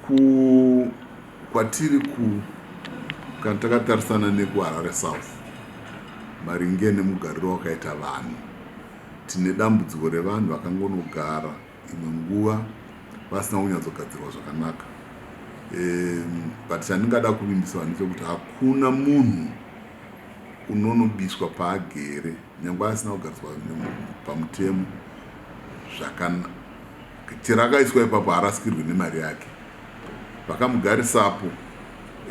Ku kwatiri ku kana takatarisana neku Harare South maringe nemugariro wakaita vanhu tine dambudziko revanhu vakangonogara imwe nguva vasina kunyatsogadzirwa zvakanaka um, but chandingada kuvimbisa vanhu chekuti hakuna munhu unonobiswa paagere nyange asina kugariswa pamutemo zvakana Chero akaiswa ipapo harasikirwi nemari yake. Vakamugarisapo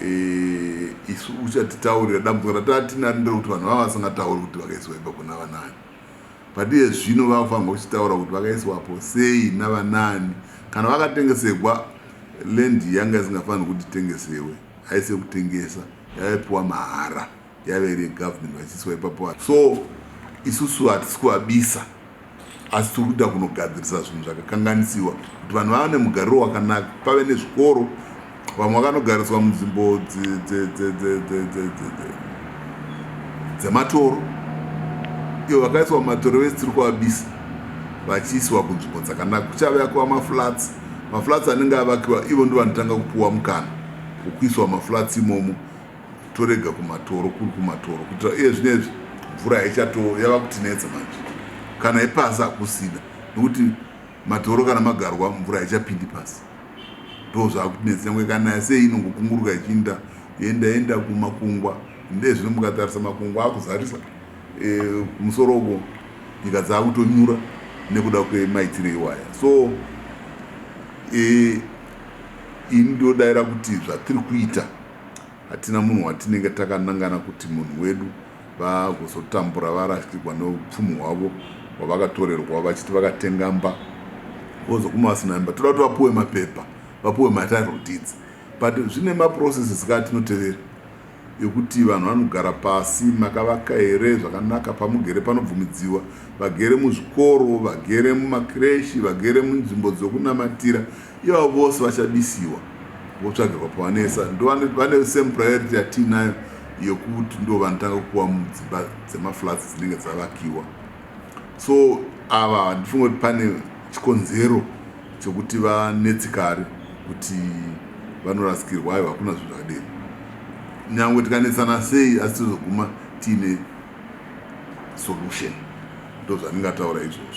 eh, isu uchatitaurira dambudziko rataatinari nderekuti vanhu vava vasingatauri kuti vakaiswa ipapo navanani padiye zvino vavafanirwa kuchitaura kuti vakaiswapo sei navanani kana vakatengesegwa lendi yanga isingafaniri kuti tengesewe haise kutengesa yaipiwa mahara yave iri yegovernment vachiiswa ipapo so isusu hatisi kuvabisa asi tiri kuda kunogadzirisa zvinhu zvakakanganisiwa kuti vanhu vava nemugariro wakanaka pave nezvikoro vamwe vakanogariswa munzvimbo dzematoro iyo vakaiswa mumatoro vese tiri kuvabisa vachiisiwa kunzvimbo dzakanaka kuchave akuva maflats maflats anenge avakiwa ivo ndivanotanga kupiwa mukana wokuiswa maflats imomo torega kumatoro kuri kumatoro kuitira iye zvinezvi mvura haichato yava kutinetsa manje kana ipasi hakusina nekuti matoro kana magarwa mvura haichapindi pasi ndo zvakutinetsa nyangwe kana sei inongokunguruka ichiinda yenda yenda kumakungwa ndezvino mukatarisa makungwa akuzarisa e, musoro uko nyika dzaakutonyura nekuda kwemaitiro iwaya so e, ini ndodaira kuti zvatiri kuita Hatina munhu watinenge takanangana kuti munhu wedu vagozotambura varasikirwa neupfumi hwavo hwavakatorerwa vachiti vakatenga mba vozoguma vasina mba toda kuti vapuwe mapepa vapuwe matitle deeds but zvine maprocesses kaa tinotevera yekuti vanhu vanogara pasi makavaka here zvakanaka pamugere panobvumidziwa vagere muzvikoro vagere mumakreshi vagere munzvimbo dzokunamatira Iye avo vose vachadisiwa votsvagirwa pavanesa ndovane same priority yatiinayo yekuti ndo vanotanga kupiwa mudzimba dzemaflats dzinenge dzavakiwa so ava handifunge kuti pane chikonzero chekuti vanetsikari kuti vanorasikirwa aiwa hakuna zvinhu zvakadero nyange tikanetsana sei asi tozoguma tiine solution ndozvandingataura izvozvo